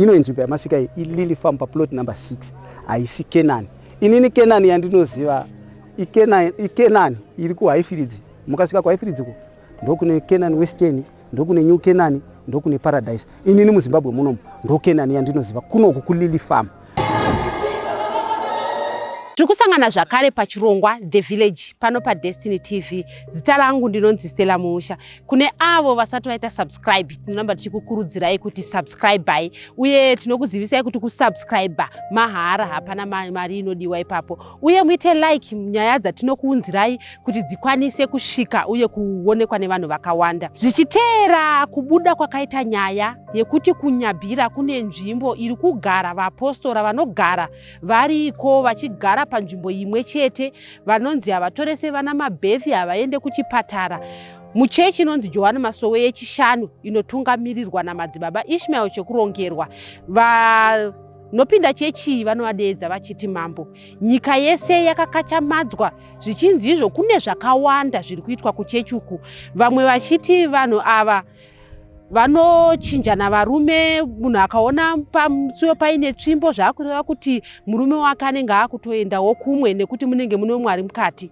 ino inzvimbo yamasvika iyi ilili farm paplot number 6 haisi kenani inini kenani yandinoziva ikenani iri kuhaifiridzi mukasvika kuhaifiridzi ko ndokune kenani western ndokune new kenani ndokune paradise inini muzimbabwe munomu ndokenani yandinoziva kunoku kulili farm tiri kusangana zvakare pachirongwa the village pano padestiny tv zita rangu ndinonzi stella muusha kune avo vasati vaita subscribe tinoramba tichikukurudzirai kuti subscribai uye tinokuzivisai kuti kusubscribe mahara hapana mari inodiwa ipapo uye muite like nyaya dzatinokuunzirai kuti dzikwanise kusvika uye kuonekwa nevanhu vakawanda zvichiteera kubuda kwakaita nyaya yekuti kunyabhira kune nzvimbo iri kugara vaapostora vanogara variko vachigara panzvimbo imwe chete vanonzi havatorese vana mabethi havaende kuchipatara muchechi inonzi johani masowe yechishanu inotungamirirwa namadzibaba ishmael chekurongerwa va Nopinda chechi vanovadeedza vachiti mambo. Nyika yese yakakachamadzwa zvichinzi izvo kune zvakawanda zviri kuitwa kuchechi uku. Vamwe vachiti vanhu ava vanochinjana varume munhu akaona pamusuyo paine tsvimbo zvaakureva kuti murume wake anenge akutoendawo kumwe nekuti munenge mune umwe ari mukati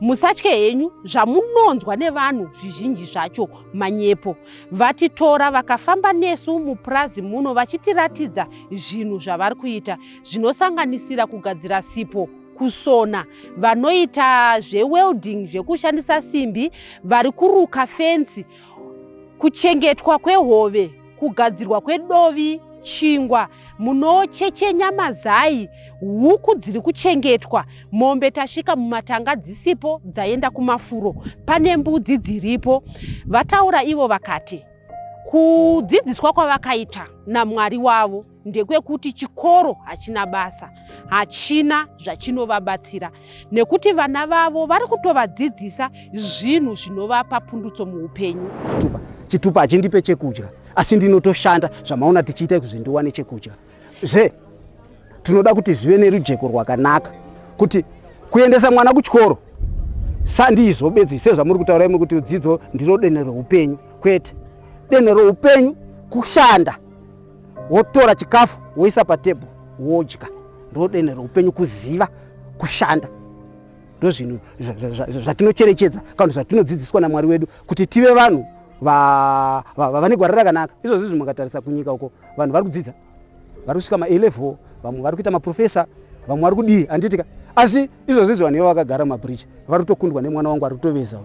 Musatye henyu zvamunonzwa nevanhu zvizhinji zvacho manyepo. Vatitora vakafamba nesu mupurazi muno vachitiratidza zvinhu zvavari kuita zvinosanganisira kugadzira sipo kusona vanoita zvewelding zvekushandisa simbi vari kuruka fensi Kuchengetwa kwehove, kugadzirwa kwedovi, chingwa, munochechenya mazai, huku dziri kuchengetwa, mombe tasvika mumatanga dzisipo dzaenda kumafuro, pane mbudzi dziripo. Vataura ivo vakati, Kudzidziswa kwavakaita naMwari wavo. ndekwekuti chikoro hachina basa hachina zvachinovabatsira nekuti vana vavo vari kutovadzidzisa zvinhu zvinovapa pundutso muupenyu chitupa chitupa hachindipe chekudya asi ndinotoshanda zvamaona tichiita kuti ndiwane chekudya zve tinoda kuti zvive nerujeko rwakanaka kuti kuendesa mwana kuchikoro sandizvo bedzi sezvamuri kutaura imwe kuti dzidzo ndiro dene reupenyu kwete dene reupenyu kushanda wotora chikafu woisa patebho wodya ndodenhe roupenyu kuziva kushanda ndozvinhu zvatinocherechedza kana zvatinodzidziswa namwari wedu kuti tive vanhu vane gwara rakanaka izvozvi zvi mukatarisa kunyika uko vanhu vari kudzidza vari kusvika malevel vamwe vari kuita maprofesa vamwe vari kudii handitika asi izvozvi izvi vanhu ivo vakagara mumabridge vari kutokundwa nemwana wangu ari kutoveza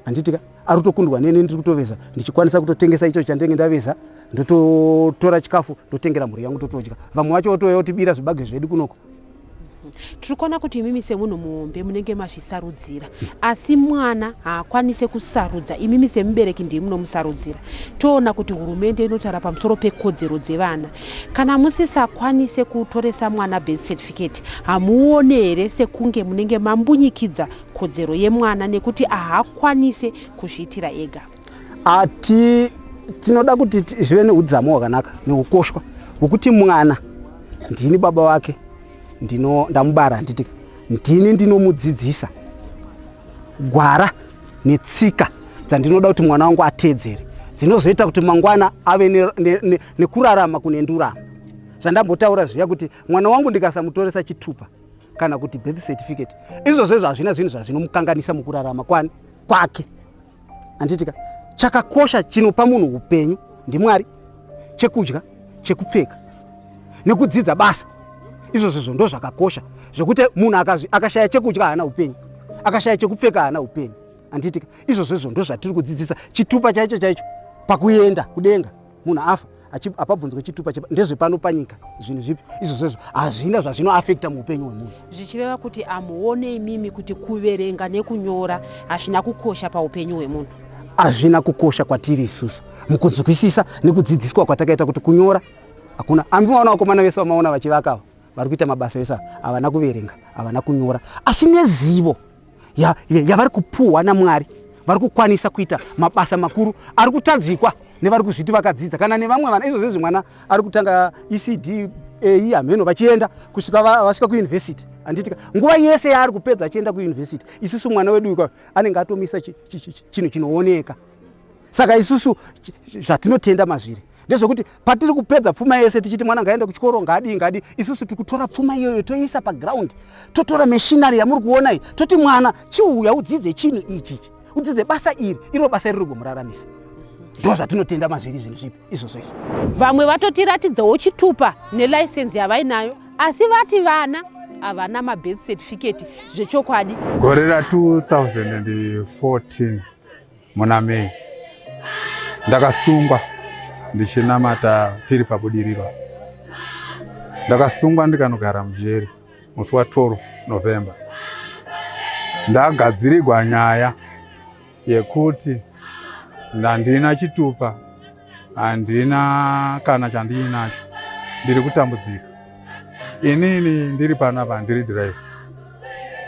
handiti ka arutokundwa neni ndiri kutoveza ndichikwanisa kutotengesa icho chandenge ndaveza ndototora chikafu ndotengera mhuri yangu totodya vamwe vacho votouya kutibira zvibage zvedu kunoko tiri kuona kuti imimi semunhu muhombe munenge mazvisarudzira asi mwana haakwanise kusarudza imimi semubereki ndiye munomusarudzira toona kuti hurumende inotaura pamusoro pekodzero dzevana kana musisakwanise kutoresa mwana birth certificate hamuone here sekunge munenge mambunyikidza kodzero yemwana nekuti ahakwanise kuzviitira ega ati tinoda kuti zvive neudzamu hwakanaka neukoshwa hwekuti mwana ndini baba wake ndino ndamubara handitika ndini ndinomudzidzisa gwara netsika dzandinoda kuti mwana wangu ateedzere dzinozoita kuti mangwana ave nekurarama ne, ne, ne kunendurama zvandambotaura zviya kuti mwana wangu ndikasamutoresa chitupa kana kuti birth certificate izvozvo izvo hazvina zvinhu zvazvinomukanganisa mukurarama kwani kwake handitika chakakosha chinopa munhu upenyu ndimwari chekudya chekupfeka nekudzidza basa izvozvo izvo ndo zvakakosha zvekuti munhu akashaya chekudya haana upenyu akashaya chekupfeka haana upenyu handitika izvozvo izvo ndo zvatiri kudzidzisa chitupa chaicho chaicho pakuenda kudenga munhu afa hapabvunzwe chitupa ndezvepano panyika zvinhu zvipi izvo zvezvo hazvina zvazvinoafekta muupenyu hwemunhu zvichireva kuti amuone imimi kuti kuverenga nekunyora hazvina kukosha paupenyu hwemunhu hazvina kukosha kwatiri isusu mukunzwisisa nekudzidziswa kwatakaita kuti kunyora hakuna ambi maona vakomana vese vamaona vachivakava vari kuita mabasa esa havana kuverenga havana kunyora asi nezivo yavari kupuhwa namwari vari kukwanisa kuita mabasa makuru ari kutadzikwa nevari kuzviti vakadzidza kana nevamwe vana izvo zvezvi mwana ari kutanga ecd ei hameno vachienda kusvika vasvika kuyunivhesiti handitika nguva yese yaari kupedza achienda kuyunivhesiti isisu mwana wedu ika anenge atomisa chinhu chinooneka saka isusu zvatinotenda mazviri ndezvekuti patiri kupedza pfuma yese tichiti mwana ngaende kuchikoro ngaadii ngaadii isusu tiri kutora pfuma iyoyo toiisa paground totora mashinary yamuri kuona iyi toti mwana chiuya udzidze chinhu ichichi udzidze basa iri iro basa iri rigomuraramisa ndo zvatinotenda mazviri zvinhu zvipi izvozvo izvi vamwe vatotiratidzawo chitupa nelicense yavainayo asi vati vana havana mabirth certificate zvechokwadi gore ra 2014 muna May ndakasungwa ndichinamata tiri pabudiriro ndakasungwa ndikanogara mujeri musi wa 12 november ndagadzirigwa nyaya yekuti ndandina chitupa handina kana chandiinacho ndiri kutambudzika inini ndiri panapa ndiri drive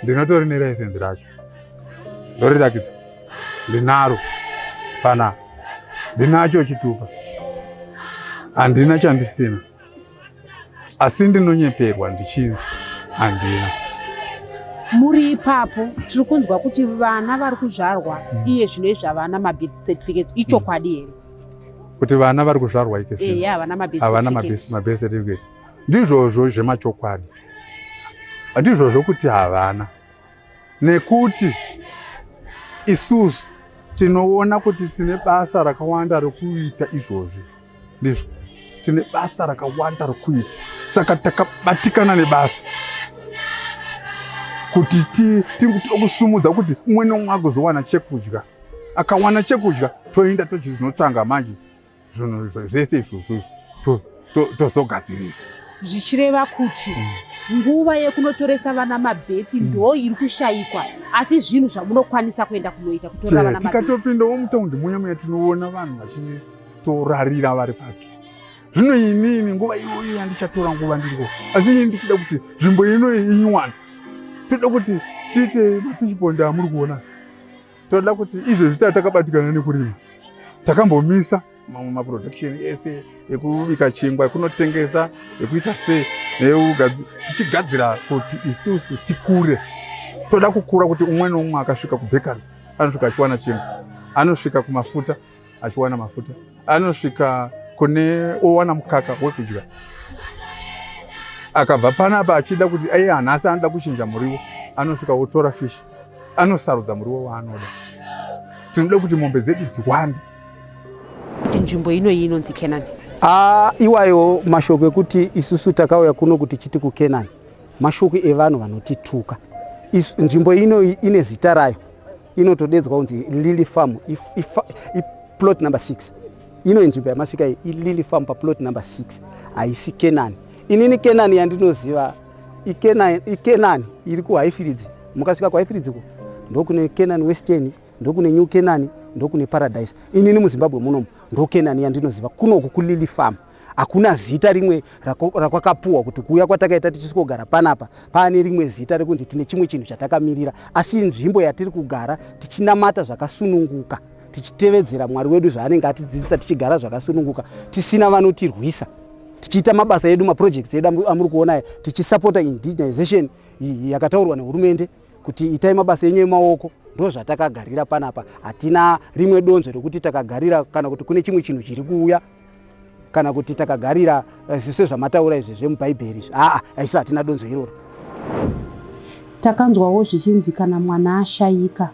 ndinotori nelicense racho ndorirakidza ndinaro pana ndinacho chitupa handina chandisina asi ndinonyeperwa ndichinzi handina muri ipapo tiri kunzwa kuti vana vari kuzvarwa mm. iye zvino izvavana mabirth certificates ichokwadi here kuti vana vari kuzvarwa ikavana mabirth certificate ndizvozvo zvemachokwadi ndizvozvo kuti havana nekuti isusu tinoona kuti tine basa rakawanda rokuita izvozvi ndizvo tine basa rakawanda rokuita saka takabatikana nebasa kuti tiokusumudza kuti umwe nomwe agozowana chekudya akawana chekudya toenda tochizinotsvanga manje zvinhu izvo- zvese izvozvo izvo to- to- tozogadzirisa zvichireva kuti nguva yekunotoresa vana mabheki ndo iri kushaikwa asi zvinhu zvamunokwanisa kuenda kunoita kutora Che, vana mabheki tikatopindawo mutaundi muya muya tinoona vanhu vachitorarira vari pake zvino inini nguva iyoyi yandichatora nguva ndiriko asi ini ndichida kuti nzvimbo ino inywane toda kuti tiite mafishbond amuri kuona toda kuti izvezvi taa takabatikana nekurima takambomisa mamwe maproduction ese ekubika chingwa ekunotengesa ekuita sei tichigadzira kuti isusu tikure toda kukura kuti umwe neumwe akasvika kubhekari anosvika achiwana chingwa anosvika kumafuta achiwana mafuta anosvika kune owana mukaka wekudya akabva panapa achida kuti iye hanhasi anoda kuchinja muriwo anosvika otora fishi anosarudza muriwo waanoda tinoda kuti mombe dzedu dziwande kuti nzvimbo inoyi inonzi kenani ah, iwayo mashoko ekuti isusu takauya kuno kuti chiti kukenani mashoko evanhu vanotituka nzvimbo inoyi ine zita rayo inotodedzwa kunzi lily farm iplot number 6 ino inzvimbo yamasvika iyi ilily farm paplot number 6 haisi kenani inini kenani yandinoziva ikenani iri kuhaifiridzi mukasvika kuhaifiridzi ku ndokune kenani western ndokune new kenani ndokune paradise inini muzimbabwe munomu ndokenani yandinoziva kunoku kulily farm hakuna zita rimwe rakwakapuwa kuti kuuya kwatakaita tichisvogara panapa paane rimwe zita rekunzi tine chimwe chinhu chatakamirira asi nzvimbo yatiri kugara tichinamata zvakasununguka tichitevedzera mwari wedu zvaanenge atidzidzisa tichigara zvakasununguka tisina vanotirwisa tichiita mabasa edu maprojekti edu amuri kuona aya tichisapota indigenization yakataurwa nehurumende kuti itai mabasa enyu emaoko ndo zvatakagarira panapa hatina rimwe donzo rekuti takagarira kana kuti kune chimwe chinhu chiri kuuya kana kuti takagarira eh, zviso zvamataura izvi zvemubhaibheri izvi aa aisi hatina donzo iroro takanzwawo zvichinzi kana mwana ashaika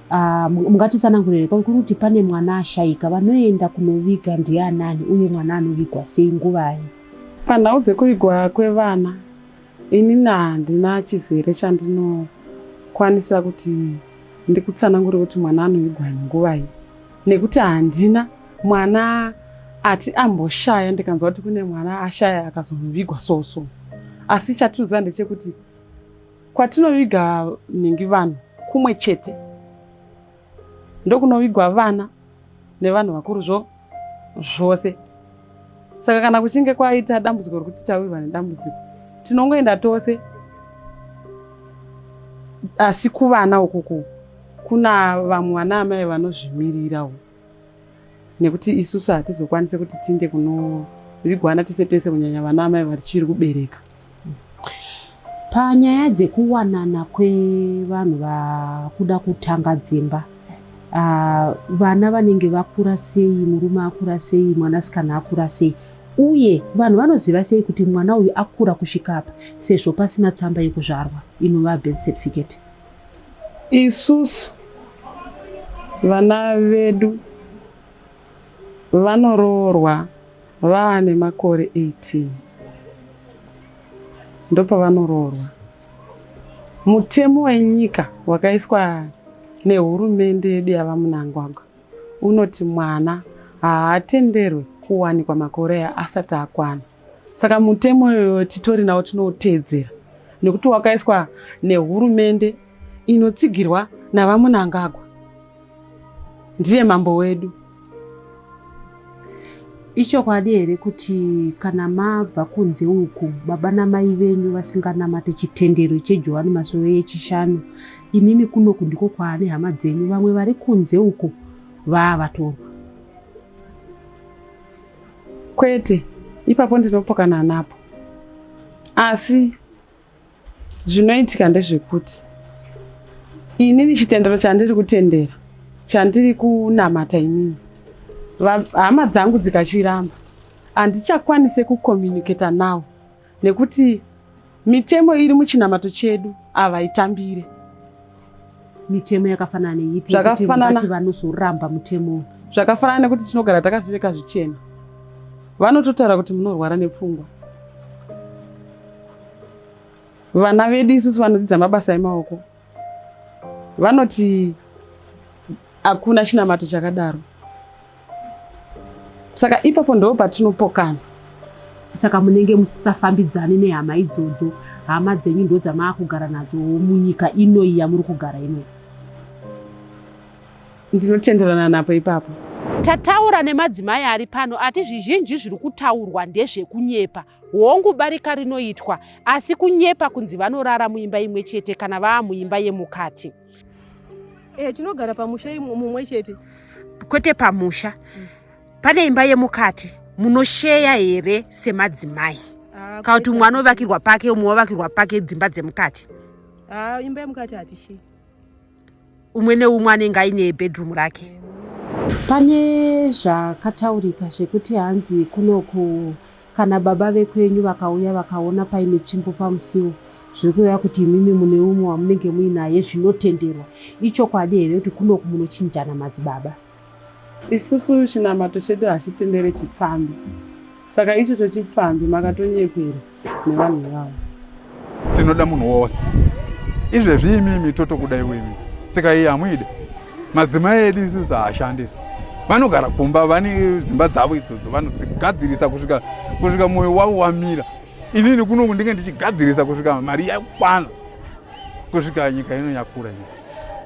ah, mungatitsanangurire kuri kuti pane mwana ashaika vanoenda kunoviga ndianani uye mwana anovigwa sei nguvai panhau dzekuvigwa kwevana ini handina chizere chandinokwanisa kuti ndikutsanangure kuti mwana anovigwa nguvai nekuti handina mwana ati amboshaya ndikanzwa kuti kune mwana ashaya akazonovigwa so so asi chatinoziva ndechekuti kwatinoviga nhingi vanhu kumwe chete ndokunovigwa vana nevanhu vakuru zvo zvose saka kana kuchinge kwaita dambudziko rekuti tawirwa nedambudziko tinongoenda tose asi kuvana ukuku kuna vamwe vana amai vanozvimirira u nekuti isusu hatizokwanise kuti tiinde kunovigwana tese tese kunyanya vana amai vachiri kubereka Panyaya dzekuwanana kwevanhu vakuda kutanga dzimba uh, vana vanenge vakura sei, murume akura sei, mwanasikana akura sei uye vanhu vanoziva sei kuti mwana uyu akura kusvika apa sezvo pasina tsamba yekuzvarwa inova birth certificate. Isusu vana vedu Vanoroorwa vava nemakore 18 ndopavanoroorwa. Mutemo wenyika wakaiswa nehurumende yedu yaVaMnangagwa unoti mwana haatenderwe kuwanikwa makore asati akwana. Saka mutemo iyoyo titori nawo tinouteedzera nekuti wakaiswa nehurumende inotsigirwa naVaMunangagwa. Ndiye mambo wedu. Ichokwadi here kuti kana mabva kunze uku baba namai venyu vasinganamate chitendero cheJohani Masowe yeChishanu, imimi kunoku ndiko kwaane hama dzenyu vamwe vari kunze uko vaa vatorwa? Kwete, ipapo ndinopokana napo. Asi zvinoitika ndezvekuti inini chitendero chandiri kutendera chandiri kunamata inini hama dzangu dzikachiramba handichakwanise kucommunicata nawo nekuti mitemo iri muchinamato chedu havaitambire mitemo yakafanana neipi zvakafanana vanozoramba mutemo zvakafanana nekuti tinogara takapfeka zvichena vanototaura kuti munorwara nepfungwa vana vedu isusu vanodzidza mabasa emaoko vanoti hakuna chinamato chakadaro saka ipapo ndo patinopokana saka munenge musisafambidzani nehama idzodzo hama dzenyu ndo dzamaakugara nadzo munyika inoyi yamuri kugara inoyi ndinotenderana napo ipapo tataura nemadzimai ari pano ati zvizhinji zviri kutaurwa ndezvekunyepa Hongu, barika rinoitwa, asi kunyepa kunzi vanorara muimba imwe chete kana vaa muimba yemukati. E, tinogara pamusha mumwe chete, kwete pamusha. Mm. Pane imba yemukati munosheya here semadzimai? Ah, kana kuti umwe anovakirwa pake umwe wavakirwa pake dzimba dzemukati? Ah, imba yemukati hatisheyi. umwe neumwe anenge aine bedroom rake pane zvakataurika zvekuti hanzi kunoku kana baba vekwenyu vakauya vakaona paine tsvimbo pamusiwo zviri kureva kuti imimi mune umwe wamunenge muinaye zvinotenderwa ichokwadi here kuti kunoku munochinjana madzibaba Isusu chinamato chedu hachitendere chipfambi saka ichocho chipfambi makatonyepera nevanhu ivavo. Tinoda munhu wose izvezvi imimi totokudai wemi sika iyi hamuide madzimai edu isusu haashandisa vanogara kumba vane dzimba dzavo idzodzo vanogadzirisa kusvika kusvika mwoyo wavo wamira inini kunoku ndinge ndichigadzirisa kusvika mari yakwana kusvika nyika ino yakura nyika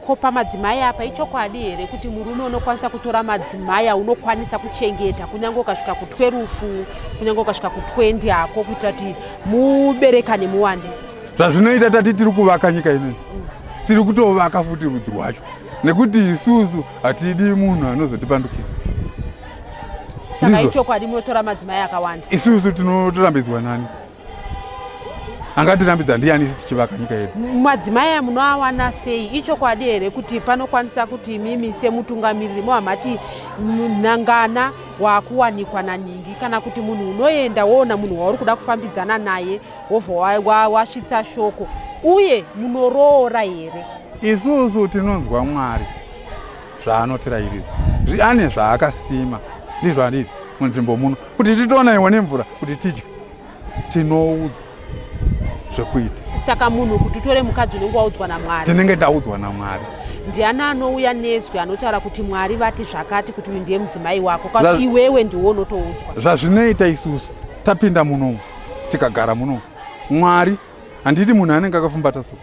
ko pamadzimai apa ichokwadi here kuti murume unokwanisa kutora madzimai aunokwanisa kuchengeta kunyange ukasvika kutwe rufu kunyange ukasvika kutwendi hako kuitira kuti muberekane muwande zvazvinoita tati tiri kuvaka nyika inei tiri kutovaka futi rudzi rwacho nekuti isusu hatidi munhu anozotipandukira saka ichokwadi munotora madzimai akawanda isusu tinotorambidzwa nani angatirambidza ndiani isi tichivaka nyika yedu madzimai aya munoawana sei ichokwadi here kuti panokwanisa kuti imimi semutungamiriri mohamati nhangana waakuwanikwa nanhingi kana kuti munhu unoenda woona munhu wauri kuda kufambidzana naye wobva wasvitsa shoko uye munoroora here isusu tinonzwa mwari zvaanotirairidza ane zvaakasima ndizvo anditi munzvimbo muno kuti titoona iwo nemvura kuti tidye tinoudzwa zvekuita saka munhu kuti utore mukadzi unenge waudzwa namwari tinenge taudzwa namwari ndiani anouya nezwi anotaura kuti mwari vati zvakati kuti uyu ndiye mudzimai wako ka iwewe ndiwo unotoudzwa zvazvinoita isusu tapinda munomu tikagara munomu mwari handiti munhu anenge akafumbata so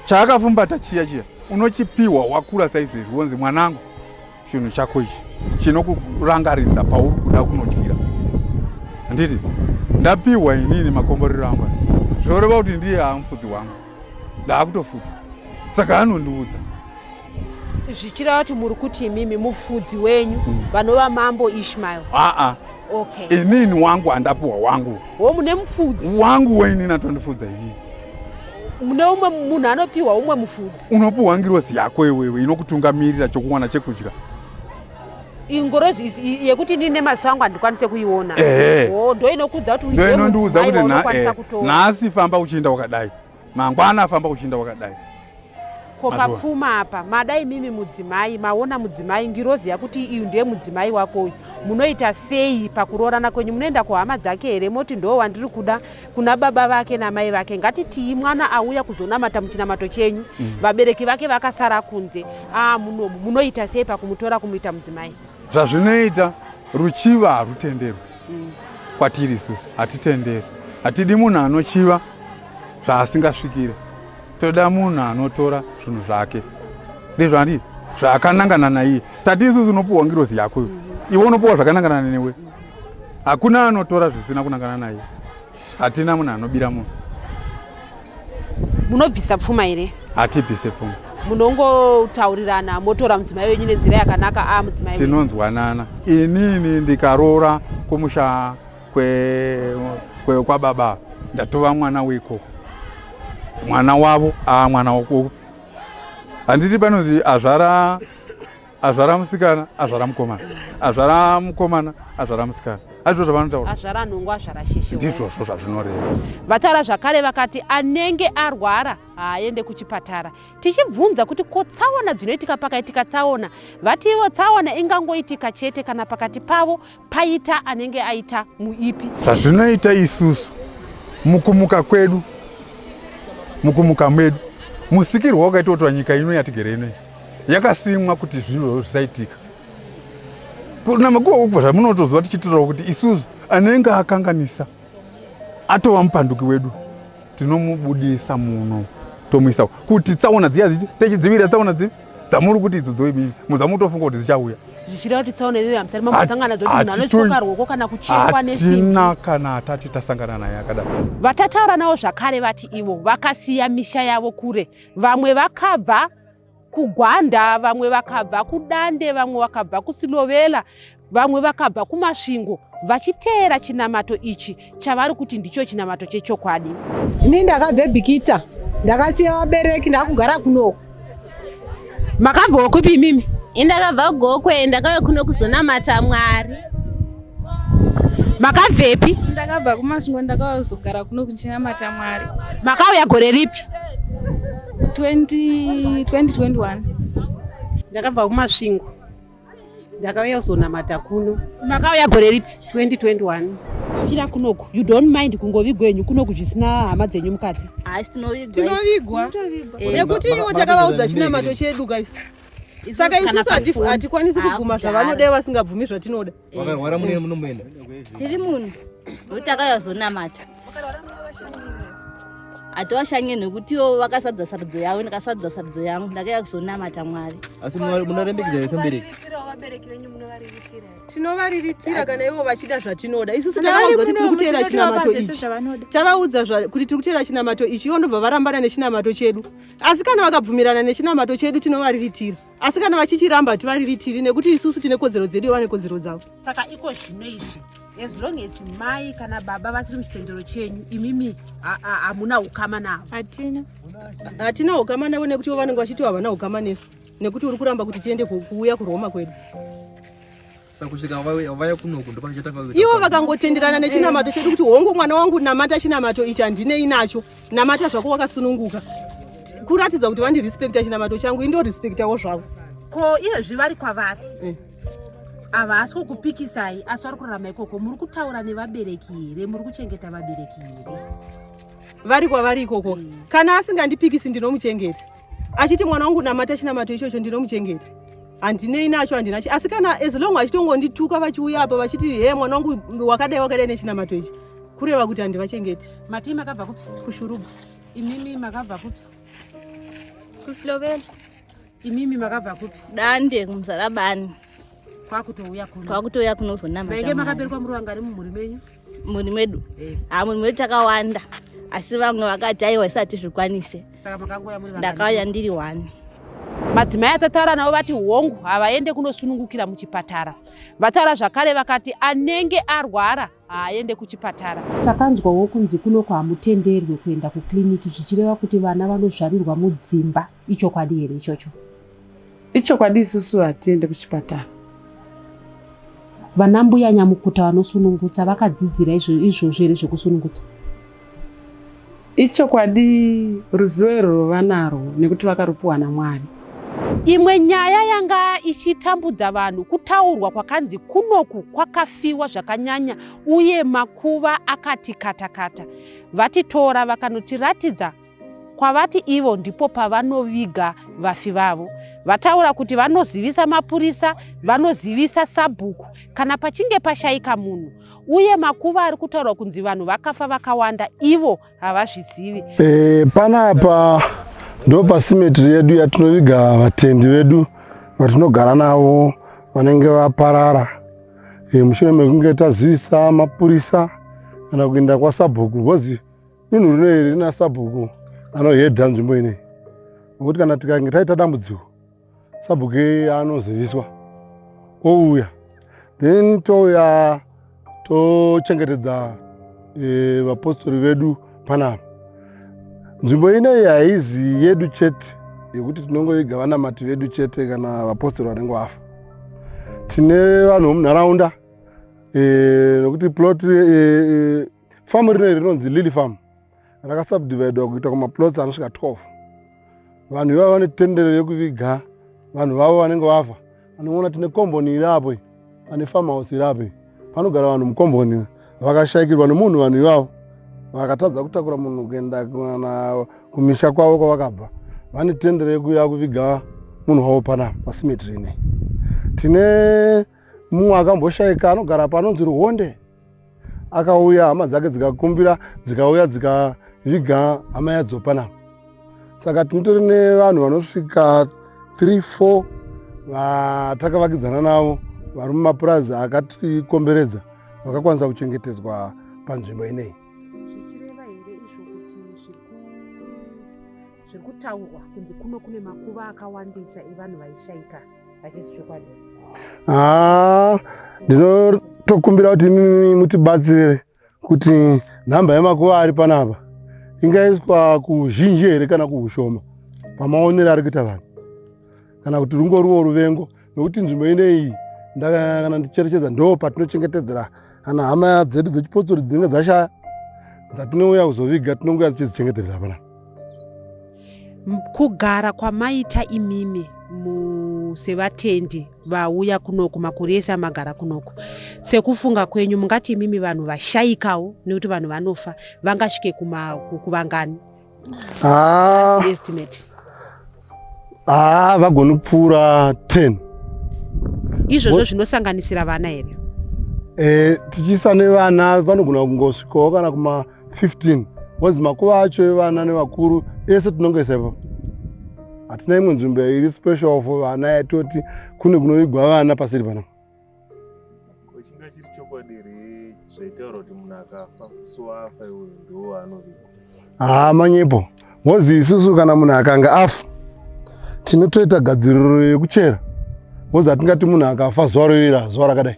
chaakafumbata chiya chiya unochipiwa wakura saizvezvi wonzi mwanangu chinhu chako ichi chinokurangaridza pauri kuda kunodyira handiti ndapiwa inini makomborero angu zvoreva kuti ndiye amufudzi wangu ndaakutofudza saka anondiudza zvichireva kuti muri kuti imimi mufudzi wenyu mm. vanova mambo ishmael aa Okay. Inini wangu handapuwa wangu. Wo mune mufudzi. Wangu wainini atondifudza inini. Mune umwe munhu anopiwa umwe mufudzi. Unopuwa ngirozi yako iwewe inokutungamirira chokuwana chekudya. Ingorozi yekuti inini nemaso angu handikwanise kuiona. Eh. Wo ndo inokudza kuti uiwe. Ndo inondiudza kuti na eh. Nhasi famba uchienda wakadai. mangwana afamba kuchinda wakadai ko papfuma apa madai mimi mudzimai maona mudzimai ngirozi yakuti iyu ndiye mudzimai wako uyu munoita sei pakuroorana kwenyu munoenda kuhama dzake here moti ndoo wandiri kuda kuna baba vake namai vake ngatitii mwana auya kuzonamata muchinamato chenyu mm. vabereki vake vakasara kunze aa ah, munomu munoita sei pakumutora kumuita mudzimai zvazvinoita ruchiva harutenderwi mm. kwatiri isusu hatitenderi hatidi munhu anochiva zvaasingasvikire toda munhu anotora zvinhu zvake ndezvandii zvakanangana naiye tati isusu unopiwa ngirozi yako mm-hmm. iwe unopiwa zvakanangana newe hakuna anotora zvisina kunangana naiye hatina munhu anobira munhu munobvisa pfuma here hatibvise pfuma munongotaurirana motora mudzimai wenyu nenzira yakanaka a ah, mudzimai tinonzwanana inini ndikaroora kumusha kwekwaBaba kwe, kwe ndatova mwana weikoko mwana wavo a ah, mwana wokoko handiti panonzi azvara azvara musikana azvara mukomana azvara mukomana azvara musikana hazvo zvavanotaura azvara nhungu azvara sheshe ndizvozvo zvazvinoreva vataura zvakare vakati anenge arwara haaende kuchipatara tichibvunza kuti ko tsaona dzinoitika pakaitika tsaona vati ivo tsaona ingangoitika chete kana pakati pavo Paita anenge aita muipi. Zvazvinoita isusu mukumuka kwedu mukumuka mwedu musikirwa wakaitwa kuti nyika ino yatigere ino yakasimwa kuti zvinhu zvisaitika kunamakuwa kubva zvamunotoziva tichitorawo kuti isusu anenge akanganisa atova mupanduki wedu tinomubudisa muno tomuisa kuti tsaona dziya dzichi techidzivirira tsaona dzi dzamuri kuti idzo dzoimii muzamutofunga kuti dzichauya zvichireva kuti tsaona iyoyo hamusati mambosangana dzoti munhu anotyoka ruoko kana kuchekwa nesimbihatina kana hatati tasangana naye akadaro vatataura navo zvakare vati ivo vakasiya misha yavo kure vamwe vakabva kugwanda vamwe vakabva kudande vamwe vakabva kusilovela vamwe vakabva kumasvingo vachiteera chinamato ichi chavari kuti ndicho chinamato chechokwadi ini ndakabva ebhikita ndakasiya vabereki ndakugara kunoko makabvawo kupi imimi indakabva gokwe ndakauya kuno kuzonamata mwari makabvepi ndakabva kumasvingo ndakauya kuzogara kuno kuchinamata mwari makauya gore ripi 2021 ndakabva kumasvingo ndakauya kuzonamata kuno makauya gore ripi 2021 fira kunoku you don't mind kungovigwa henyu kunoku zvisina hama dzenyu mukati haisi tinovigwa tinovigwa nekuti ivo takavaudza chinamato chedu guys saka isusu hatikwanisi kubvuma zvavanodai vasingabvumi zvatinoda vakarwara mune munomboenda tiri munhu nokuti akayazonamata hatiwashanye nekutiwo vakasadza sarudzo yavo ndakasadza sarudzo yangu ndakaya kuzonamata mwari asi munorembekedza vese mubereki tinovariritira kana ivo vachida zvatinoda isusu tavaudza kuti tiri kuteera chinamato ichi tavaudza kuti tiri kuteera chinamato ichi ivo ndobva varambana nechinamato chedu asi kana vakabvumirana nechinamato chedu tinovariritira asi kana vachichiramba hativariritiri nekuti isusu tine kodzero dzedu ivo vane kodzero dzavo saka iko zvino izvi as long as mai kana baba vasiri muchitendero chenyu imimi hamuna ukama navo hatina hatina ukama navo nekuti ivo vanenge vachiti havana ukama nesu nekuti uri kuramba kuti tiende kuuya kuroma kwedu ivo vakangotenderana nechinamato chedu kuti hongu mwana wangu namata chinamato ichi handinei nacho namata zvako wakasununguka kuratidza kuti vandirespekta chinamato changu indorespektawo zvavo ko iyezvi vari kwavari eh. havasi kukupikisai asi vari kurarama ikoko muri kutaura nevabereki here muri kuchengeta vabereki here vari kwavari ikoko eh. kana asingandipikisi ndinomuchengeta achiti mwana wangu namata chinamato ichocho ndinomuchengeta handinei nacho handina asi kana as long vachitongondituka vachiuya apa vachiti he mwana wangu wakadai wakadai nechinamato ichi kureva kuti handivachengeti matii makabva kupi kushuruba imimi makabva kupi kusloveni imimi makabva kupi dande kumzarabani kwakutouya kuno kwakutouya kunozonamavainge makaberekwa muri vangari mumhuri menyu mhuri medu eh. ha mhuri medu takawanda asi vamwe vakati aiwa isati zvikwanise ndakauya ndiri one madzimai atataura navo vati hongu havaende kunosunungukira muchipatara vataura zvakare vakati anenge arwara haaende kuchipatara takanzwawo kunzi kunoko hamutenderwe kuenda kukiriniki zvichireva kuti vana vanozvarirwa mudzimba ichokwadi here ichocho Ichokwadi isusu hatiende kuchipatara. Vana mbuya nyamukuta vanosunungutsa vakadzidzira izvozvo here zvekusunungutsa? Ichokwadi ruzivo irwo vanarwo nekuti vakarupiwa naMwari. Imwe nyaya yanga ichitambudza vanhu kutaurwa kwakanzi kunoku kwakafiwa zvakanyanya uye makuva akati katakata. VaTitora vakanotiratidza kwavati ivo ndipo pavanoviga vafi vavo. Vataura kuti vanozivisa mapurisa, vanozivisa sabhuku kana pachinge pashaika munhu uye makuva ari kutaurwa kunzi vanhu vakafa vakawanda ivo havazvizivi. E, panapa ndo pasimetri yedu yatinoviga vatendi vedu vatinogara navo vanenge vaparara e, mushure mekunge tazivisa mapurisa kana kuenda kwasabhuku because dunhu rino iri rina sabhuku anohedha nzvimbo inei nokuti kana tikange taita dambudziko sabhuku iye anoziviswa ouya then touya tochengetedza e, vapostori vedu panapa nzvimbo inei haizi yedu chete yekuti tinongoiga vanamati vedu chete kana vapostori vanenge vafa tine vanhu vomunharaunda e, nokuti plot e, e, famu rineri rinonzi lily farm rakasubdividwa kuita kumaplots anosvika 12 vanhu ivavo vane tendero yekuviga vanhu vavo vanenge vafa anoona tine komboni iri apo pane farmhouse iri apo panogara vanhu mukomboni vakashaikirwa nemunhu vanhu ivavo vakatadza kutakura munhu kuenda kana kumisha kwavo kwavakabva vane tendero yekuya kuviga munhu wavo pana pasimeti rine tine Mumwe akamboshaika anogara panonzi Ruhonde akauya hama dzake dzikakumbira dzikauya dzikaviga hama yadzopana saka tinotori nevanhu vanosvika 3 4 vatakavakidzana navo vari mumapurazi akatikomberedza vakakwanisa kuchengetedzwa panzvimbo ineyi zvichireva here izvo kuti zviri kutaurwa kunzi kuno kune makuva akawandisa evanhu vaishaika hachisi chokwadi haa ah, ndinotokumbira kuti imimi mutibatsire kuti nhamba yemakuva ari panapa ingaiswa kuzhinji here kana kuushoma pamaonero ari kuita vanhu kana kuti rungoriwo ruvengo nokuti nzvimbo ineiyi ndakana ndicherechedza ndo patinochengetedzera kana hama dzedu dzechipotsori dzinenge dzashaya dzatinouya kuzoviga tinongoya tichizichengetedza panapa kugara kwamaita imimi sevatendi vauya kunoku makore ese amagara kunoku sekufunga kwenyu mungati imimi vanhu vashaikawo nekuti vanhu vanofa vangasvike kuvangani ah. estimate haa ah, vagoni kupfuura 10 izvozvo zvinosanganisira vana here e, tichiisa nevana vanogona kungosvikawo kana kuma 15 onzi makuva acho evana nevakuru ese tinongoisa ipapo hatina imwe nzvimbo iri special for vana yatoti kune kunovigwa vana pasiri panapa ko chinga chiri chokwadi here zvaitaura kuti munhu akafa so afa iwe ndiwo anovigwa haa ah, manyepo ngozi isusu kana munhu akanga afa tinotoita gadziriro yekuchera ngozi hatingati munhu akafa zuva royera zuva rakadai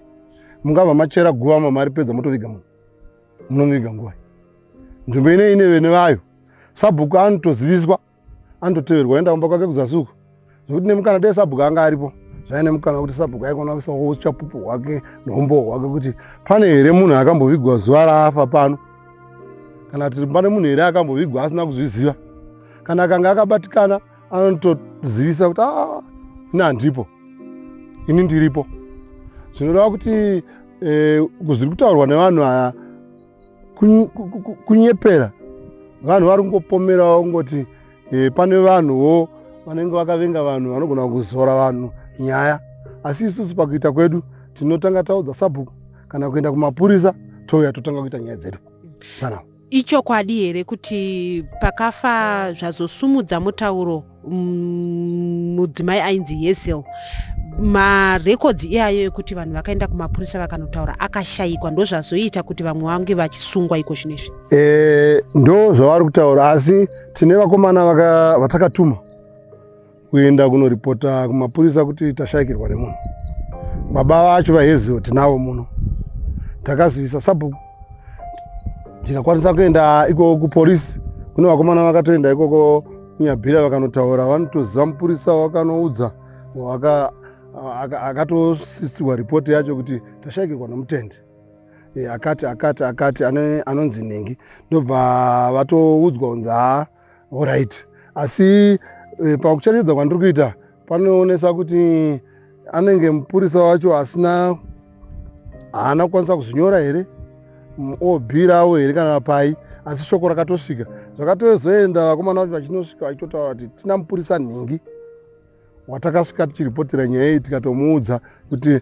mungabva machera guva mamari pedza motoviga munhu munomuviga nguva nzvimbo inei ine vene vayo sabhuku anotoziviswa andoteverwa enda kumba kwake kuzasi uko zvekuti nemukana dai sabhuku anga aripo zvaive nemukana wekuti sabhuku aikona kuisa uchapupu hwake neumbowo hwake kuti pane here munhu akambovigwa zuva raafa pano kana kuti pane munhu here akambovigwa asina kuzviziva kana akanga akabatikana anotozivisa kuti ah, ini handipo ini ndiripo zvinoreva kuti eh, zviri kutaurwa nevanhu aya kunyepera vanhu vari kungopomerawo kungoti eh, pane vanhuwo vanenge vakavenga vanhu vanogona kuzora vanhu nyaya asi isusu pakuita kwedu tinotanga taudza sabhuku kana kuenda kumapurisa touya totanga kuita nyaya dzedu ichokwadi here kuti pakafa zvazosumudza mutauro mm, mudzimai mm, ainzi yesel marekodzi iyayo ekuti vanhu vakaenda kumapurisa vakanotaura akashayikwa ndozvazoita kuti vamwe vange vachisungwa iko zvino izvi e, eh, ndo zvavari kutaura asi tine vakomana vatakatuma kuenda kunoripota kumapurisa kuti tashayikirwa nemunhu baba vacho vaheziwo tinavo muno takazivisa sabhuku ndikakwanisa kuenda ikoko kuporisi kune vakomana vakatoenda ikoko Nyabira vakanotaura vanotoziva mupurisa wakanoudza waka akatosisirwa ripoti yacho kuti tashaikirwa nomutende e, akati akati akati anonzi nhingi ndobva vatoudzwa kunzi haa orit asi e, pakucherechedza kwandiri kuita panoonesa kuti anenge mupurisa wacho asina haana kukwanisa kuzvinyora here obirawo here kana pai asi shoko rakatosvika zvakatozoenda vakomana vacho vachinosvika vachitotaura vati tina mupurisa nhingi watakasvika tichiripotera nyaya iyi tikatomuudza kuti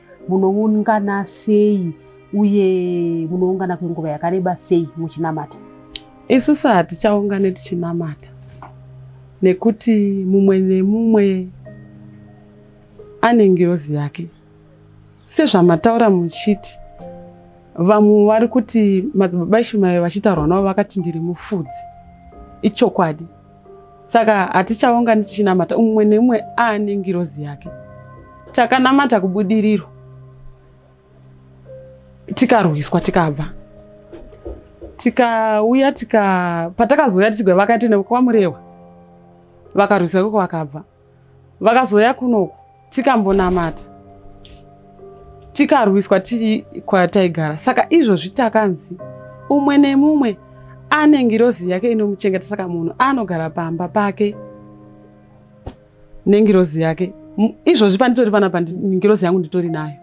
Munoungana sei uye munoungana kwenguva yakareba sei muchinamata? Isusu hatichaungane tichinamata nekuti mumwe nemumwe ane ngirozi yake. Sezvamataura muchiti vamwe vari kuti madzibaba Ishumairi vachitaurwa navo vakati ndiri mufudzi, ichokwadi. saka hatichaungani tichinamata umwe neumwe aane ngirozi yake takanamata kubudiriro tikarwiswa tikabva tikauya tika patakazouya tichigwa vakaita nekwamurewa vakarwiswa ikoko vakabva vakazouya kunoku tikambonamata tikarwiswa tiri kwataigara saka izvozvi takanzi umwe nemumwe ane ngirozi yake inomuchengeta saka munhu anogara pamba pake nengirozi yake izvozvi panditori pana pangirozi yangu nditori nayo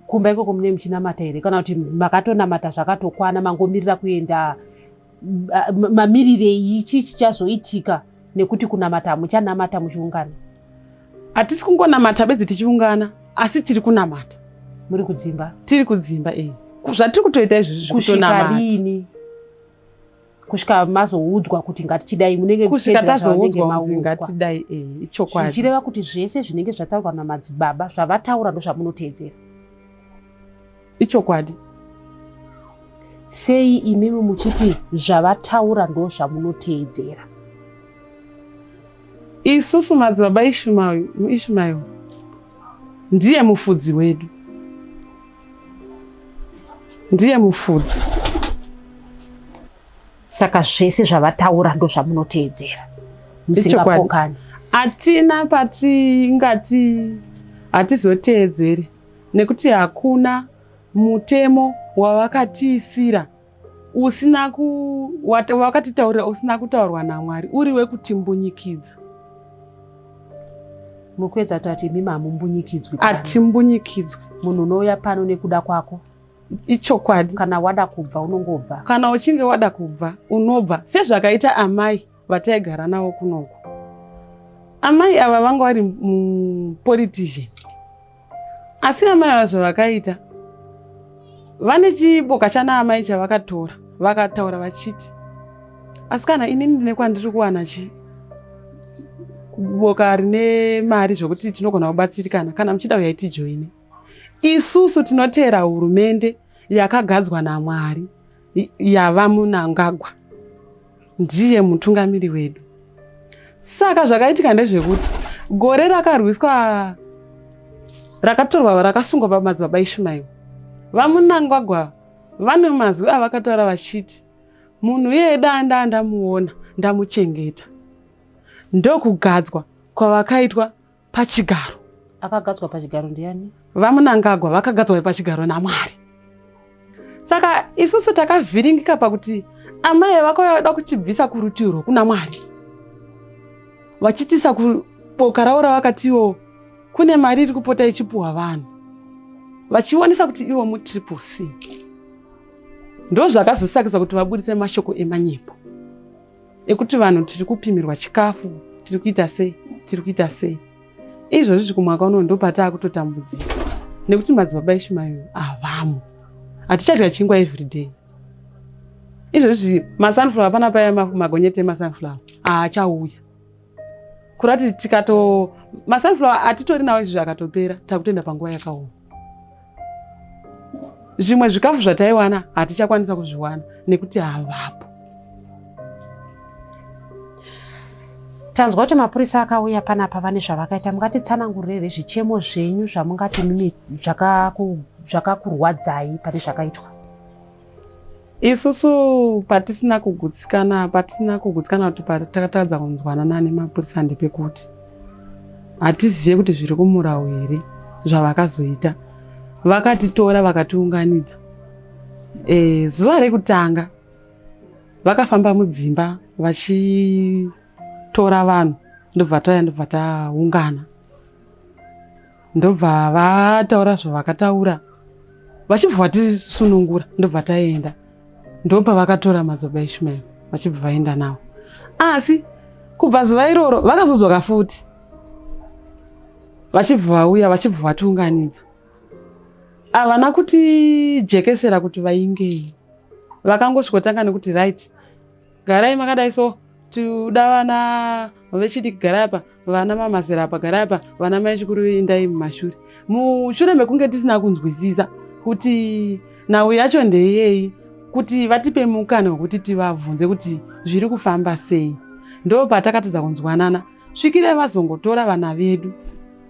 kumba ikoko mune muchinamata here kana kuti makatonamata zvakatokwana mangomirira kuenda mamirirei chii chichazoitika nekuti kunamata hamuchanamata muchiungana hatisi kungonamata bedzi tichiungana asi tiri kunamata muri kudzimba tiri kudzimba e zvatiri kutoita izvizvi kusvika riini kusvika mazoudzwa kuti ngatichidai munenge kusvika tazoudzwa kuti ngatidai e ichokwadi zvichireva kuti zvese zvinenge zvataurwa namadzibaba zvavataura ndozvamunoteedzera Ichokwadi. Sei imimi muchiti zvavataura ndozvamunoteedzera? Isusu madzibaba Ishmael ndiye mufudzi wedu. Ndiye mufudzi. Saka zvese zvavataura ndozvamunoteedzera. Musingapokani. Atina patingati hatizoteedzere. Nekuti hakuna mutemo wavakatiisira usina ku wakatitaurira usina kutaurwa naMwari uri wekutimbunyikidza. Mukwedza tati imi mamumbunyikidzwi. Atimbunyikidzwi. Munhu unouya pano nekuda kwako. Ichokwadi. Kana wada kubva unongobva. Kana uchinge wada kubva unobva sezvakaita amai vataigara navo kunoku amai ava vanga vari mupolitician asi amai ava zvavakaita vane chiboka chana amai chavakatora vakataura vachiti asi kana inini ndine kwandiri kuwana chii boka rine mari zvokuti tinogona kubatsirikana kana muchida uyai tijoine isusu tinoteera hurumende yakagadzwa namwari yava munangagwa ndiye mutungamiri wedu saka zvakaitika ndezvekuti gore rakarwiswa rakatorwa rakasungwa pamadzibaba ishumairo vamunangagwa vane mazwi avakataura vachiti munhu iyeye daa ndaa ndamuona ndamuchengeta ndokugadzwa kwavakaitwa pachigaro akagadzwa pachigaro ndiani vamunangagwa vakagadzwa pachigaro namwari saka isusu takavhiringika pakuti amai vako vada kuchibvisa kurutivi rwokuna mwari vachitisa kuboka ravo ravakatiwo kune mari iri kupota ichipuhwa vanhu vachionesa kuti ivo mutriple c ndozvakazosakisa kuti vabudise mashoko emanyimbo ekuti vanhu tiri kupimirwa chikafu tiri kuita sei tiri kuita sei izvozvizvi kumwaka unono ndopataa kutotambudzika nekuti madzibaba ishumayo havamo hatichadya chingwa everyday izvozvizvi masunflower pana paya magonyeti emasunflower haachauya kurati tikato masunflower atitori nawo izvi zvakatopera takutoenda panguva yakaoma zvimwe zvikafu zvataiwana hatichakwanisa kuzviwana nekuti havapo tanzwa kuti mapurisa akauya panapa vane zvavakaita mungatitsanangurire zvichemo zvenyu zvamungati zvakakurwadzai pane zvakaitwa isusu patisina kugutsikana patisina kugutsikana kuti patakatadza kunzwanana nemapurisa ndepekuti hatizive kuti zviri kumurau here zvavakazoita vakatitora vakatiunganidza e, zuva rekutanga vakafamba mudzimba vachitora vanhu ndobva tauya ndobva taungana ndobva vataura zvavakataura vachibva vatisunungura ndobva taenda ndopa vakatora madzoba ishmael vachibva vaenda nawo asi kubva zuva iroro vakazodzoka futi vachibva vauya vachibva vatiunganidza havana kuti jekesera kuti vaingei vakangosvikotanga nekuti right Garai makadai so tikuda vana vechidiki garai apa vana mamazera apa garai apa vana mai chikuru indai mumashure mushure mekunge tisina kunzwisisa kuti nhau yacho ndeyei kuti vatipe mukana wekuti tivabvunze kuti zviri kufamba sei ndo patakatadza kunzwanana svikire vazongotora vana vedu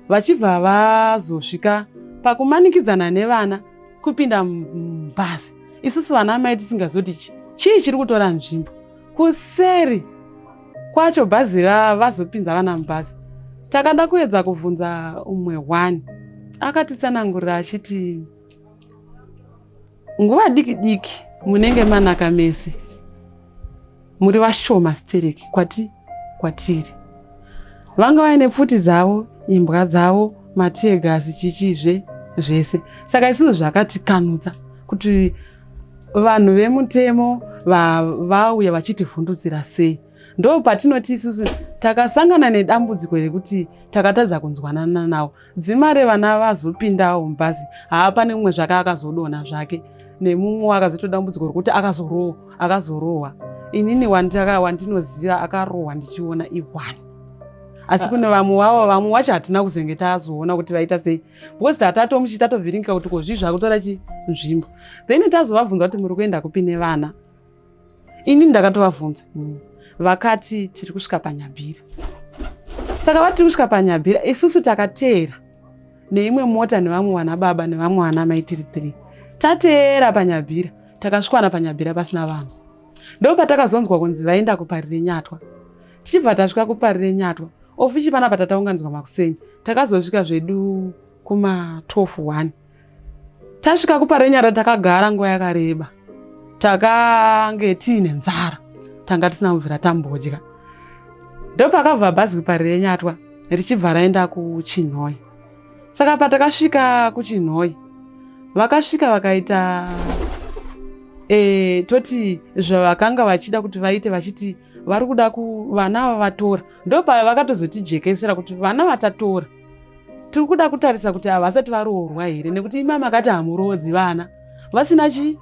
vachibva vazosvika pakumanikidzana nevana kupinda mubhazi isusu vana amai tisingazoti chi chii chiri kutora nzvimbo kuseri kwacho bhazi vazopinza vana mubhazi takada kuedza kuvhunza umwe one akatitsanangurira achiti nguva diki diki munenge manaka mese muri vashoma stereki kwati kwatiri vanga vaine pfuti dzavo imbwa dzavo matiyegasi chichizve zvese saka isizvo zvakatikanutsa kuti vanhu vemutemo vauya vachitivhundutsira sei ndo patinoti isusu takasangana nedambudziko rekuti takatadza kunzwanana navo Dzima revana vazopindawo mubhazi haa pane mumwe zvake akazodonha zvake nemumwe akazoita dambudziko rekuti akazorohwa akazorohwa inini wandaka wandinoziva akarohwa ndichiona iwani asi ah. kune vamwe vavo vamwe wacho hatina kuzenge tazoona kuti vaita sei because tatatomuchi tatovhiringika kuti ko zvii zvakutora chinzvimbo then tazovabvunza kuti muri kuenda kupi nevana ini ndakatovavhunza mm. vakati tiri kusvika panyabhira saka vatiri kusvika panyabhira isusu takateera neimwe mota nevamwe vana baba nevamwe vana mai tiri three tateera panyabhira takasvikwana panyabhira pasina vanhu ndo patakazonzwa kunzi vaenda kupari renyatwa tichibva tasvika kupari renyatwa ofichi panapa tataunganidzwa makuseni takazosvika zvedu kuma 12 one Tasvika kuparenyara takagara nguva yakareba. Takange tiine nzara. Tanga tisina kubvira tambodya. Ndopakabva bhazi kuparenyatwa richibva raenda kuchinhoyi. Saka patakasvika kuchinhoyi vakasvika vakaita e, toti zvavakanga vachida kuti vaite vachiti vari kuda vana vavatora ndopavakatozotijekesera kuti vana vatatora Tiri kuda kutarisa kuti ava vasati varoorwa here nekuti imama akati hamuroodzi vana vasina chi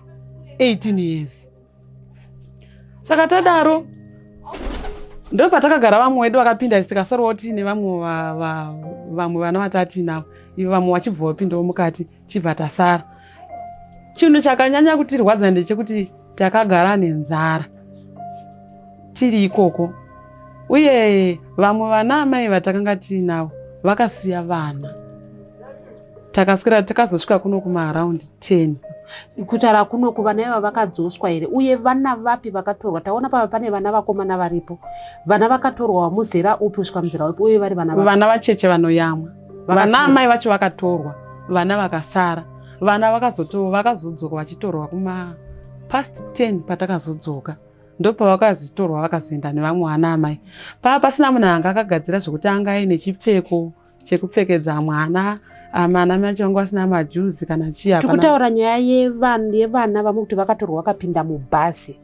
18 years. Saka tadaro ndopatakagara vamwe wedu vakapinda isi tikasarwa kuti nevamwe vamwe vana vatatiinavo ivo vamwe vachibva vapindawo mukati tichibva tasara. Chinhu chakanyanya kutirwadza ndechekuti takagara nenzara tiri ikoko uye vamwe vana amai vatakanga tiinavo vakasiya vana takaswera takazosvika kuno kumaaround 10 kutaura kuno kuvana iva vakadzoswa here uye vana vapi vakatorwa taona pava pane vana vakomana varipo vana vakatorwa wamuzera upi kusvika muzera upi uye vari vana vana vacheche vanoyamwa vana amai vacho vakatorwa vana vakasara vana vakazoto vakazodzoka vachitorwa kuma past 10 patakazodzoka ndopavakazotorwa vakazoenda nevamwe vana amai paa pasina munhu anga akagadzira zvekuti anga aine chipfeko chekupfekedza mwana amana mai vacho vanga vasina majuzi kana chii tikutaura nyaya yevana vamwe kuti vakatorwa vakapinda mubhasi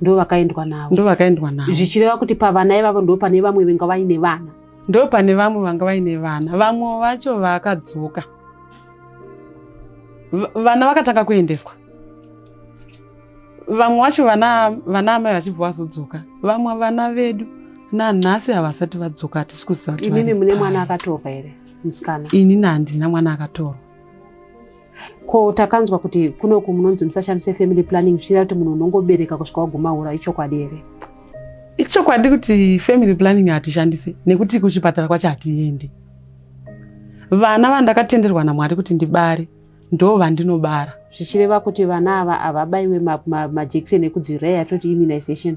ndovakaendwa navo ndovakaendwa navo zvichireva kuti pavana ivavo ndo pane vamwe venga vaine vana ndo pane vamwe vanga vaine vana vamwe vacho vakadzoka vana vakatanga kuendeswa vamwe vacho vana vana amai vachibva vazodzoka vamwe vana vedu nanhasi havasati vadzoka hatisi kuziva kuti imimi mune mwana akatorwa here musikana inini handina mwana akatorwa ko takanzwa kuti kunoku munonzi musashandise family planning zvichireva kuti munhu unongobereka kusvika waguma hura ichokwadi here ichokwadi kuti family planning hatishandise nekuti kuchipatara kwacho hatiende vana vandakatenderwa namwari kuti ndibare ndo vandinobara zvichireva kuti vana ava havabaiwe majekiseni ekudzivirira yatoti immunization